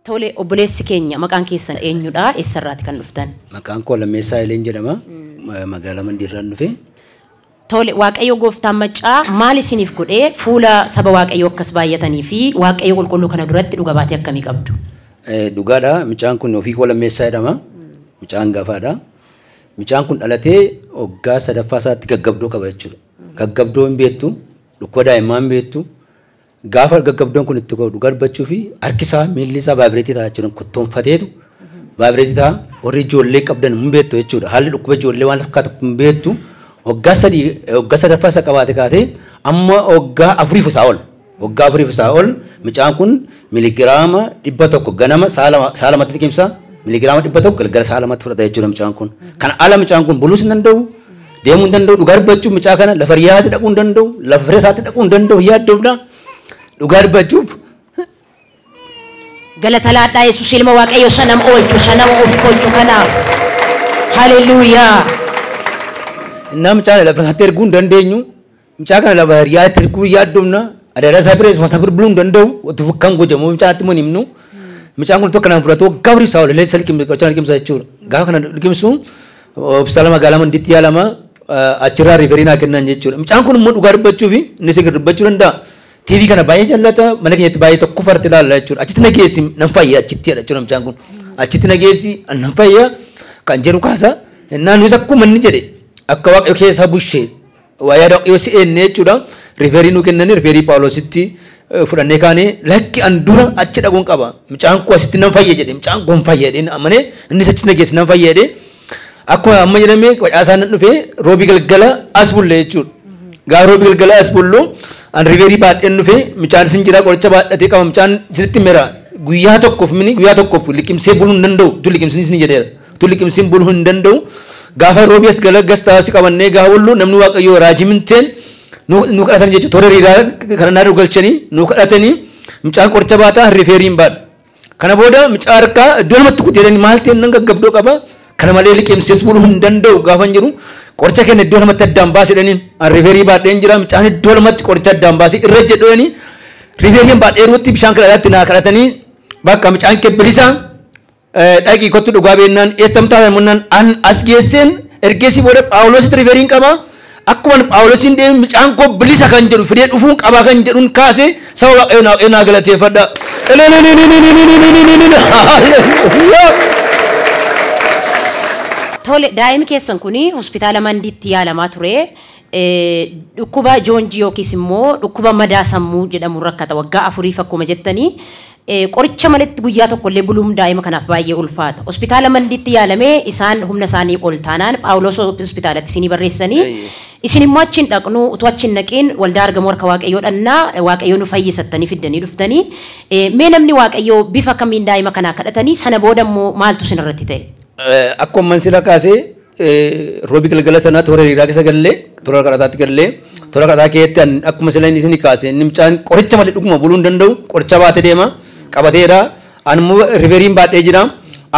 Tole, obboleessi keenya maqaan keessan eenyudha? Eessarraati kan dhuftan? Maqaan koo Lammeessaa Haileen jedhama. Magaalaa Mandiirraan dhufe. Tole waaqayyoo gooftaan maccaa maal isiniif godhee fuula saba waaqayyoo akkas baay'atanii fi waaqayyoo qulqulluu kana duratti dhuga baatee akkamii qabdu? Dhugaadha micaan kun ofii koo lammeessaa jedhama micaa hangafaadha micaan kun dhalatee waggaa sadaffaa isaatti gaggabdoo qaba jechuudha gaggabdoo hin beektu dhukkuba daa'immaa hin beektu Gaafa gaggabdoon kun itti godhu garbachuu fi harki isaa miilli isaa vaayibireetii ta'a jechuudha. Kottoonfateetu vaayibireetii ta'a. Warri ijoollee qabdan hin beektu jechuudha. Haalli dhukkuba ijoollee waan fakkaatu hin beektu. Waggaa sadii waggaa sadaffaa isa qabaate kaasee amma waggaa afuriif isaa ol. Waggaa afuriif isaa ol mucaan kun miligiraama dhibba tokko ganama sa'a lama sa'a lamatti liqimsa. Miligiraama dhibba tokko galgala sa'a lamatti fudhata jechuudha mucaan kun. Kana ala mucaan kun buluus hin danda'u. Deemuu hin danda'u dhugaa dubbachuuf mucaa kana lafa riyaati dhaquu hin danda'u lafa fira isaatti dhaquu hin danda'u hin yaaddoofna dhugaa dubbachuuf Galatalaadhaa Yesuus ilma Waaqayyo isa nama oolchu isa nama of kolchu kanaaf. Haleluuyaa. namchaan lafa isaatti erguu hin dandeenyu Mucaa kana lafa hiriyaa itti erguu hin yaaddomna. Adaraa isaa bira isuma sabir buluu hin danda'u. Wati fukkan gojamu mucaa itti hin himnu. Mucaan kun tokko naan fudhatu waggaa horii isaa oollee isa liqimsa qochaan liqimsa jechuudha. Gaafa kana liqimsu hospitaala magaalaa mandiitti yaalama achirraa riiferii naa kennan jechuudha. Mucaan kun immoo dhugaa dubbachuu fi inni sigir dubbachuu danda'a. TV kana baay'ee jallata mana keenyatti baay'ee tokko farti ilaalla jechuudha. Achitti na geessi nan fayya achitti jedha jechuudha mucaan kun. Achitti na geessi nan fayya kan jedhu kaasa. Naannis akkuma inni jedhe akka waaqayyo keessaa bushee Waa'ee yoo si eenne jechuudha riiferii nu kennanii riiferii Paawuloositti fudhannee kaanee lakki an dura achi dhaquun qaba. Mucaan koo asitti nan fayya jedhe mucaan koo hin fayya jedheen amanee innis achitti na geesse nan fayya jedhee akkuma amma jedhame facaasaa nan dhufee roobii galgala as bulle jechuudha. Gaafa roobii galgala as bullu an riiferii baadheen dhufee mucaan isin jira qoricha baadhatee qaba mucaan isinitti mera guyyaa tokkoof mini guyyaa tokkoof liqimsee buluu hin danda'u tu liqimsinis ni jedheera. Utuu liqimsiin buluu hin danda'u. Gaafa roobii as gala gas taasisuu qabannee gaafa bullu namni waaqayyoo raajii minteen nu kadhatan jechuudha. Toora hiriiraa kana naannoo galchanii nu kadhatanii mucaan qoricha baataa rifeerii hin baadhu. Kana booda mucaa harkaa iddoo namatti kutee jedhanii maal ta'e nan gaggabdoo qaba. Kana malee liqimsiis buluu hin danda'u gaafa hin jiru. Qoricha kenna iddoo namatti addaan baasee jedhanii rifeerii baadheen jira. Mucaan iddoo namatti qoricha addaan baasee irra jedhanii rifeeriin baadhee ruutti bishaan kadhataatti naa kadhatanii bakka mucaan kee bilisaa Dhaqii kottu dhugaa beennaan eestam taatan munnaan an as geesseen ergeessii booda Phaawulositti riferiin qaba. Akkuman Phaawulosiin deeme mucaan koo bilisa kan jedhu fidee dhufuun qabaa kan jedhuun kaase saba waaqayyo naa waaqayyo naa galateeffadha. Tole daa'imi keessan kun hospitaala Mandiitti yaalamaa ture. Eh, Dhukkuba joonjii yookiis immoo dhukkuba madaa sammuu jedhamu rakkata waggaa afuriif akkuma jettanii Qoricha maletti guyyaa tokkollee buluum daa'ima kanaaf baay'ee ulfaata. Hospitaala Mandiitti yaalamee isaan humna isaanii ol taanaan Phaawuloos hospitaalatti isinii barreessanii isin immoo achi hin dhaqnuu utuu achi hin dhaqiin waldaa argamuu harka Waaqayyoo dhannaa Waaqayyoo nu fayyisa jettanii fiddanii dhuftanii mee namni Waaqayyoo bifa kamiin daa'ima kanaa kadhatanii sana booda immoo maaltu isin irratti ta'e? Akkuma amman sila kaase Roobii galgala sana toora hiriiraa keessa gallee toora kadhataatti gallee toora kadhataa keessatti an akkuma sila inni isin kaase inni mucaan qoricha malee dhuguma buluu hin danda'u qoricha baatee deema qabateera an immoo riveriin baadhee jira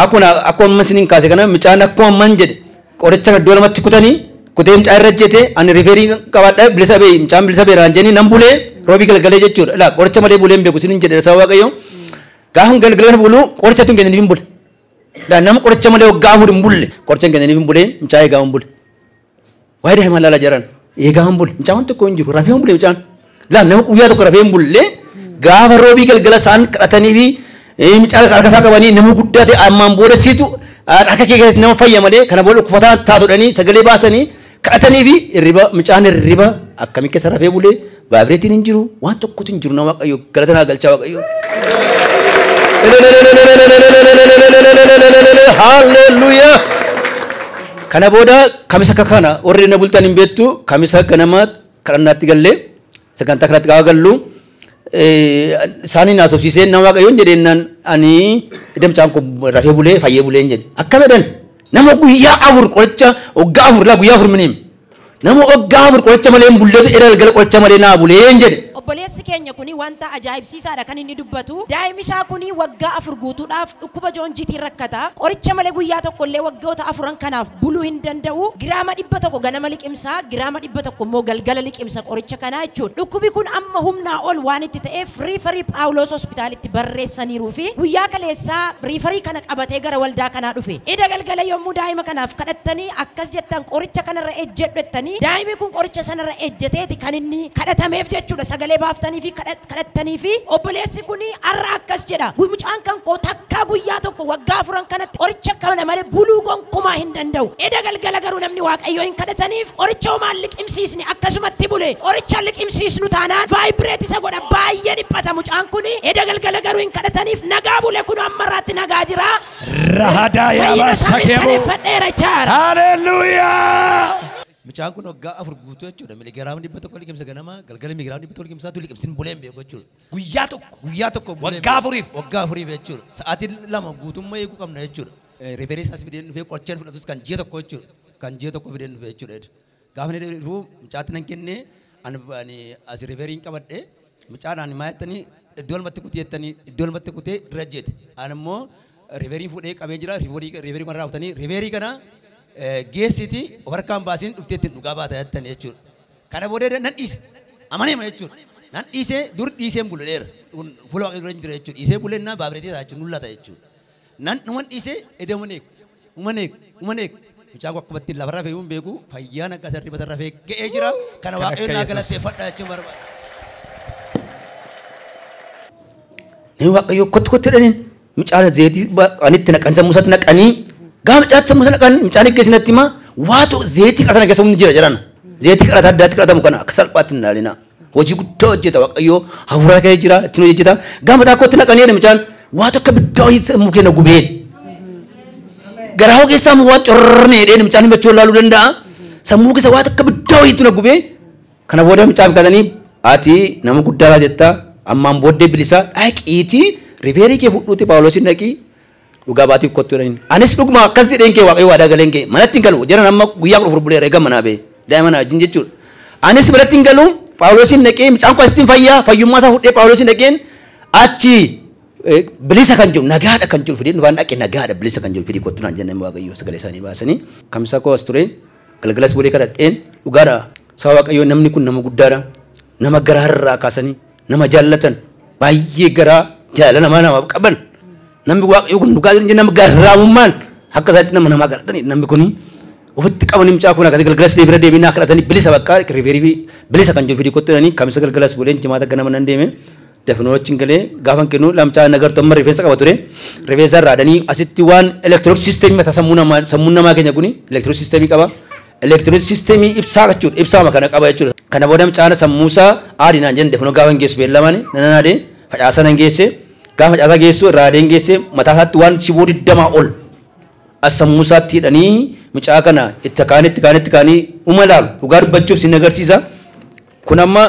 akkuma akkuma amma isin kaase kana mucaan akkuma amman jedhe qoricha kana iddoo lamatti kutanii kutee mucaa irra jete an riverii qabaadha bilisa bee mucaan bilisa beeraan jenni nan bulee roobii galgalee jechuudha laa qoricha malee bulee hin beeku isin jedhe sababa waaqayyoo gaafan galgalan bulu qoricha tun kennin hin bule. Daa nama qoricha malee waggaa afur hin bulle qoricha hin kennaniif hin buleen mucaa eegaa hin bule. Waa'ee daa'imaa laala jaran eegaa hin bule mucaa waan tokko hin jiru rafee hin bule mucaan. Daa nama guyyaa tokko rafee hin bulle gaafa roobii galgala isaan kadhatanii fi mucaa harka isaa qabanii nama guddaa ta'e ammaan booda siitu harka kee keessatti nama fayya malee kana booda uffataa taatudhanii sagalee baasanii kadhatanii fi irriba mucaan irriba akkami keessa rafee bulee vaayibireetiin hin jiru waan tokkotu hin jiru na waaqayyo galata naa galchaa waaqayyo. Haalleluuyaa. Kana booda kamisa akka kana warri na bultan hin beektu kamisa ganama kadhannaatti gallee sagantaa kanatti gaafa gallu isaaniin haasofsiisee nama waaqayyoon jedheennaan ani edda mucaan kun rafee bulee fayyee buleen jedhe akkam jedhan nama guyyaa afur qoricha waggaa afur laa guyyaa afur miniim nama waggaa afur qoricha malee hin bulleetu edda galgala qoricha malee naa buleen jedhe Obboleessi keenya kuni wanta ajaa'ibsiisaadha kan inni dubbatu. Daa'imni isaa kuni waggaa afur guutuudhaaf dhukkuba joonjiitiin rakkata. Qoricha malee guyyaa tokko illee waggoota afuran kanaaf buluu hin danda'u. Giraama dhibba tokko ganama liqimsa. isaa giraama 100 immoo galgala liqimsa qoricha kanaa jechuudha. Dhukkubi kun amma humnaa ol waan itti ta'eef riifarii Phaawuloos Hospitaalitti barreessaniiruu fi guyyaa kaleessaa riifarii kana qabatee gara waldaa kanaa dhufe. Eda galgala yommuu daa'ima kanaaf kadhattanii akkas jettan qoricha kanarra ejjedhu jettanii daa'imi kun qoricha sanarra ejjeteeti kan inni kadhatameef jechuudha. Sagalee baaftaniifii kadha. kadhattanii fi obboleessi kun har'a akkas jedha mucaan kan koo takkaa guyyaa tokko waggaa afuran kanatti qoricha kana malee buluu gonkumaa hin danda'u eda galgala garuu namni waaqayyoo hin kadhataniif qoricha homaan liqimsiisni akkasumatti bule qoricha liqimsiisnu taanaan vaayibireet isa godha baay'ee dhiphata mucaan kun eda galgala garuu hin kadhataniif nagaa bule kun amma irraatti nagaa jira Rahadaa fayyina yaabaa isaa sakee boo. mirkaneeffadheera jaara Haleluuyaa! Mucaan kun waggaa afur guutuu jechuudha. Miligiraama dhibba tokko liqimsa ganama, galgala miligiraama dhibba tokko liqimsa tu liqimsin bulee hin beeku jechuudha. Guyyaa tokko. Guyyaa tokko hin bulee hin Waggaa beeku. afuriif. Waggaa afuriif jechuudha. Sa'aatii lama guutummaa eeguu qabna jechuudha. Riferii isaas fideen dhufee qorcheen fudhatus kan ji'a tokko jechuudha. Kan ji'a tokko fideen dhufee jechuudha. Gaafa inni dhufu mucaatti nan kennee ani ani as riferiin qabadhee Mucaan ani maa jettanii iddoo lamatti kuti jettanii iddoo lamatti kutee irra jeete. Ani immoo riverii fuudhee qabee jira riverii kanarraa kutanii riverii kana geessiiti of harkaan baasiin dhuftee ittiin dhugaa baata jettanii jechuudha. Kana booda nan dhiise amaneema jechuudha. Nan dhiisee dur dhiiseen buleera. Fuula waaqayyoo dura hin jira jechuudha. Dhiisee bulee innaa baabireetii ta'a jechuudha. Nullata jechuudha. Nan dhuman dhiisee edaman eegu. Uman eegu. Uman eegu. Mucaan kun akkuma ittiin lafa rafe iyyuu hin beeku. Fayyaa nagaa isa hirriba isa rafee ga'ee jira. Kana Kan akka waaqayyoon naa Yesus. galateeffadha jechuun barbaada. Namni waaqayyoo kottu kottu jedhaniin mucaan zeetii anitti naqan sammuu isaatti naqanii gaafa mucaatti sammuu isaa naqan mucaan eeggeessi natti himaa waatu zeetii qara sana keessa humni jira jedhan. Zeetii qara addaatti qaratamu kana akka salphaatti hin ilaalinaa. Hojii guddaa hojjeta Waaqayyoo hafuuraa ka'ee jira ittiin hojjeta. Gaafa takkoo itti naqanii jedhe mucaan waa tokko biddaa hojii sammuu keenya gubeen. Garaa hoo keessaa immoo waa corrne jedheen mucaan himachuu laaluu danda'a. Sammuu keessa waa tokko biddaa hojiitu na gubee. Kana booda mucaan kadhanii ati nama guddaa laa jetta ammaan booddee bilisaa dhaqiitii rifeerii kee fudhuuti Paawuloosiin dhaqii Dhugaa baatiif kottu jedhaniin. Anis dhuguma akkas jedheen kee Waaqayyo waadaa galeen kee manatti hin galu jedhan amma guyyaa kudha afur buleera eegan manaa ba'e daa'ima na wajjin jechuudha. Anis manatti hin galu Phaawulosiin dhaqee mucaan koo asittiin fayyaa fayyummaa isaa fudhee Phaawulosiin dhaqeen achi bilisa kan jiru nagaadha kan jiru fidee dhufaan dhaqe nagaadha bilisa kan jiru fidee kottu naan jennaan Waaqayyo sagalee isaanii baasanii kamisa koo as ture galgalas bulee kadhadheen dhugaadha saba Waaqayyo namni kun nama guddaadha nama garaarraa kaasanii nama jaallatan baay'ee garaa jaalala namaa namaaf qaban namni waaqayyo kun dhugaa jiru nama garraamummaan akka isaatti nama namaa kadhatanii namni kun ofitti qabanii mucaa kun akkasii galgalas deebira deebiin naa kadhatanii bilisa bakka riifeerii fi bilisa kan jiru fidii kottu jedhanii kamisa galgalas buleen jimaata ganama nan deeme dafinoo achiin galee gaafan kennu lamcaa nagartu amma rifeensa qaba ture rifeensa irraa adanii asitti waan elektirook siisteemii mataa sammuu namaa sammuu namaa keenya kun elektirook siisteemii qaba Elektirooniksii siistemii ibsaa jechuudha. Ibsaama kana qaba jechuudha. Kana booda mucaan sammuu isaa aadi naan jenne kunoo gaafa hin geessu beellamaan nan aadee facaasaa nan geesse gaafa facaasaa geessu irraa aadeen geesse mataa isaatti waan shiboo digdamaa ol as sammuu isaatti hidhanii mucaa kana itti kaanii itti kaanii itti kaanii uma ilaalu dhugaa dubbachuuf sin agarsiisa. Kun amma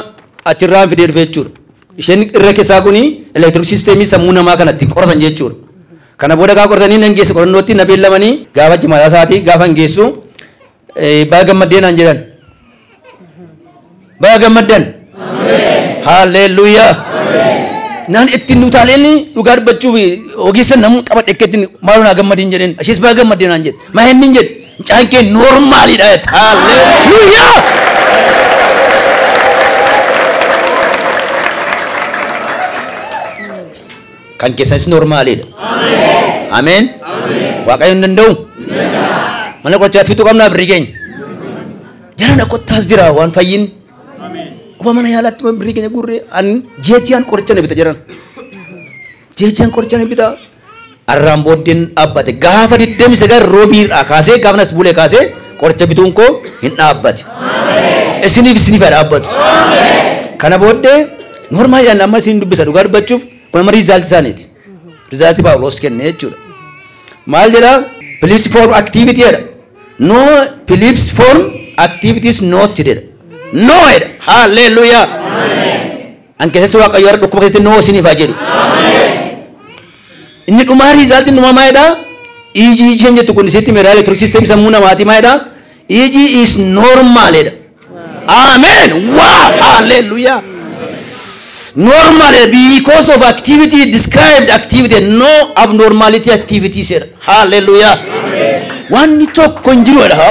achirraa hin fidee dhufe jechuudha. Isheen irra keessaa kun elektironik siisteemii sammuu namaa kana ittiin qoratan jechuudha. Kana booda gaafa qoratanii nan geesse qorannootti na beellamanii gaafa jimaataa isaatii gaafa hin geessu baga gammaddee naan jedhan. Baga gammaddan. Haalleelluuyaa. Naan ittiin utaaleen dhugaa dubbachuuf ogeessa namuun qabadhe akka ittiin maaloo naa gammadiin jedheen. Ishees baga gammaddee naan jedhe. Maa hin jedhe. Mucaan kee noormaaliidha jette. Haalleluuyaa! Kan keessanis noormaaliidha. Ameen. Waaqayyo hin danda'u. Mana qorichaatti fixuu qabnaa birrii keenya. Jarana kottaas jira waan fayyin. Kuba mana yaalaatti birrii keenya gurree an jeejjiyaan qoricha na bita jaran. Jeejjiyaan qoricha na bita. Arraan booddeen dhaabbate. Gaafa 29 Roobii irraa kaasee gaafan as bulee kaasee qoricha bituun koo hin dhaabbate. Isiniif isiniif haa dhaabbatu. Kana booddee noormaaliidhaan amma isin dubbisa dhugaa dubbachuuf kun amma riizaalti isaaniiti. Riizaalti Paawuloos kenne jechuudha. Maal jedha? Philips form activity jedha. No Philips form activities not jedha. No jedha. Haalleluuyaa. An keessas waaqayyo har'a dhukkuba keessatti noo isiniif haa jedhu. Inni dhumaa riizaaltiin dhumaa maalidha? EG isheen jettu kun isitti meeraa elektironik siisteemii sammuu namaatii maalidha? EG is normaalidha. Amen! Waa! Haalleelluyaa! Normaalidha because of activity described activity no abnormality activity seera. Haalleluuyaa. Wanni tokko hin jiru jedha.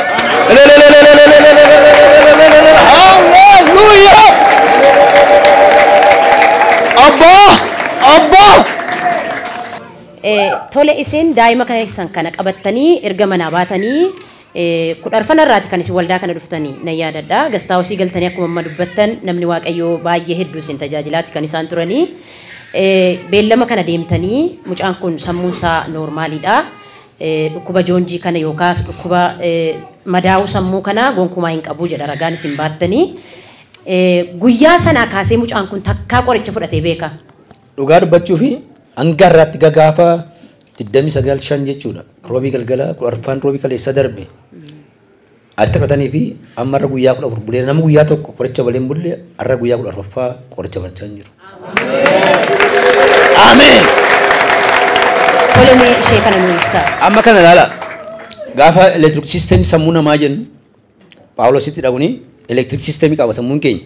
Haalleluuyaa. Abbaa! Abbaa! Eh, tole isin daa'ima keessan kana qabattanii erga manaa baatanii 10 arfana irraati kan isin waldaa kana dhuftani nan yaadadha. Gastaawosii galtanii akkuma amma dubbattan namni Waaqayyoo baay'ee hedduu isin tajaajilaati kan isaan turani. Beellama kana deemtanii mucaan kun sammuun isaa noormaaliidha. Dhukkuba joonjii kana yookaas dhukkuba madaa'uu sammuu kana gonkumaa hin qabu jedha ragaan isin baattani. Guyyaa sanaa kaasee mucaan kun takkaa qoricha fudhatee beekaa? Dhugaa dubbachuufi hanga har'aatti gagaafa 29 5 jechuudha. Roobii galgala arfaan roobii kaleessa darbe as taphatanii fi amma irra guyyaa 14 bulee nama guyyaa tokko qoricha balee hin bulle har'a guyyaa 14ffaa qoricha barachaa hin jiru. Ameen. Tole mee ishee kana nu ibsaa. Amma kana ilaala. Gaafa electric system sammuu namaa jennu Phaawulositti dhaquun elektiriik siistemii qaba sammuun keenya.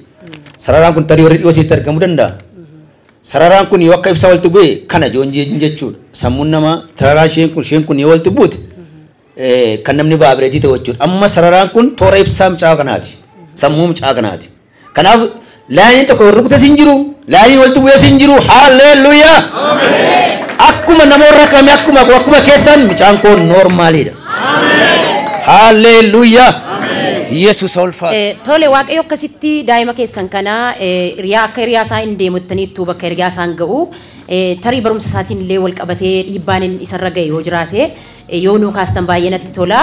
Sararaan kun tarii warri dhiyoo isinitti argamuu danda'a. Sararaan kun yoo akka ibsaa walitti bu'e kana joon jechuun jechuudha. Sammuun namaa sararaan isheen kun isheen kun yoo walitti buute kan namni vaabireetii ta'u jechuudha. Amma sararaan kun toora ibsaa mucaa kanaati. Sammuu mucaa kanaati. Kanaaf laayiniin tokko wal rukutes hin jiru, laayiniin walitti bu'es hin jiru. Haalleelluyaa! Akkuma nama warra kamii akkuma koo akkuma keessan mucaan koo noormaaliidha. Haalleelluyaa! Yesuus ulfaatu. Eh, Tole waaqayyo akkasitti daa'ima keessan kana eh, hiriyaa akka hiriyaa isaa hin deemuttaniittu bakka hiriyaa isaan ga'u eh, tarii barumsa isaatiin illee wal qabatee dhiibbaan inni isarra ga'e yoo jiraate eh, yoo nuu kaastan baay'ee natti tola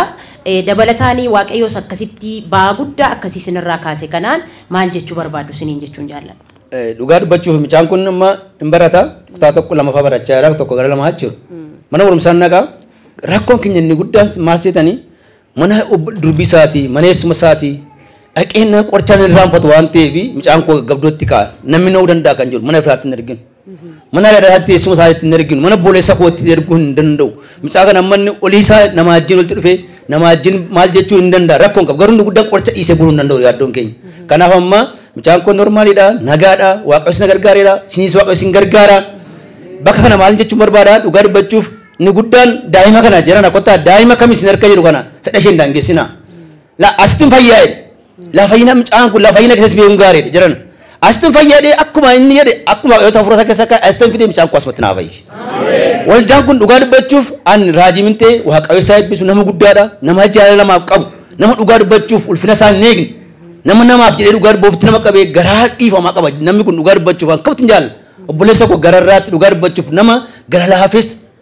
Dabalataani Waaqayyoos akkasitti ba'aa guddaa akkasii isin irraa kaase kanaan maal jechuu barbaaddu isiniin jechuun jaalladha. Dhugaa dubbachuuf mucaan kun amma hin barata kutaa tokko lama fa'aa barachaa jira tokko gara lamaa jechuudha. Mana barumsaan naqa rakkoon keenya inni guddaan maal seetanii mana durbii isaatii mana eessuma isaatii dhaqeen qorichaan hin irraanfatu waan ta'eef mucaan koo gaggabdootti ka'a namni na'uu danda'a kan jedhu mana firaatti hin arginu. Mana haadha isaatti teessuma isaa itti hin erginu. Mana obboleessa koo itti erguu hin danda'u. Mucaa kana amma inni olii isaa nama wajjin walitti dhufee nama wajjin maal jechuu hin danda'a. Rakkoo hin qabu. Garuu inni guddaan qoricha dhiisee buluu hin danda'u yaaddoon keenya. Kanaaf amma mucaan kun normaaliidha, nagaadha, waaqayyo isin gargaareera, isinis waaqayyo isin gargaara. Bakka kana maal jechuun barbaada dhugaa dubbachuuf inni guddaan daa'ima kana jiran akkottaa daa'ima kam isin harka jiru kana fedha isheen daangessinaa. La asitin fayyaa jedhe. La fayyina mucaan kun la fayyina keessas beekuun gaarii dha jiran. Asitin fayyaa jedhee akkuma inni jedhe akkuma yoo ta'u furata keessa akka asitin fidee mucaan kun asumatti naa fayyi. Waldaan kun dhugaa dubbachuuf an raajii mintee waaqayyo isaa eebbisu nama guddaadha nama jaalala namaaf qabu nama dhugaa dubbachuuf ulfina isaa hin eegne nama namaaf jedhee dhugaa dubboofitti nama qabee garaa dhiifamaa qaba namni kun dhugaa dubbachuuf akkamitti hin jaalala obboleessa koo gararraatti dhugaa dubbachuuf nama gara laafes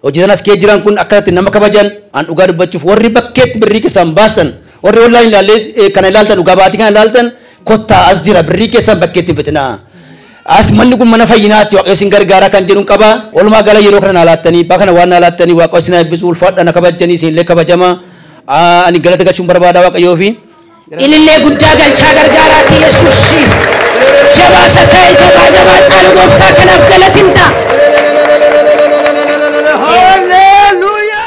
Hojjetan as kee jiran kun akkasatti nama kabajan an dhugaa dubbachuuf warri bakkeetti birrii keessan baastan warri online ilaallee kana ilaaltan dhugaa baatii kana ilaaltan kottaa as jira birrii keessan bakkeetti hin fixinaa. As manni kun mana fayyinaatti waaqayyo isin gargaaraa kan jedhuun qaba. Walumaa gala yeroo kana naa laattanii bakka kana waan naa laattanii waaqayyo isin eebbisu ulfaadha na kabajanii isin illee kabajama. Ani galata galchuun barbaada waaqayyoo fi. Ilillee guddaa galchaa gargaaraati yesuus siif jabaa isa ta'e jabaa jabaa caalu gooftaa kanaaf galatin ta'a. Hallelujah!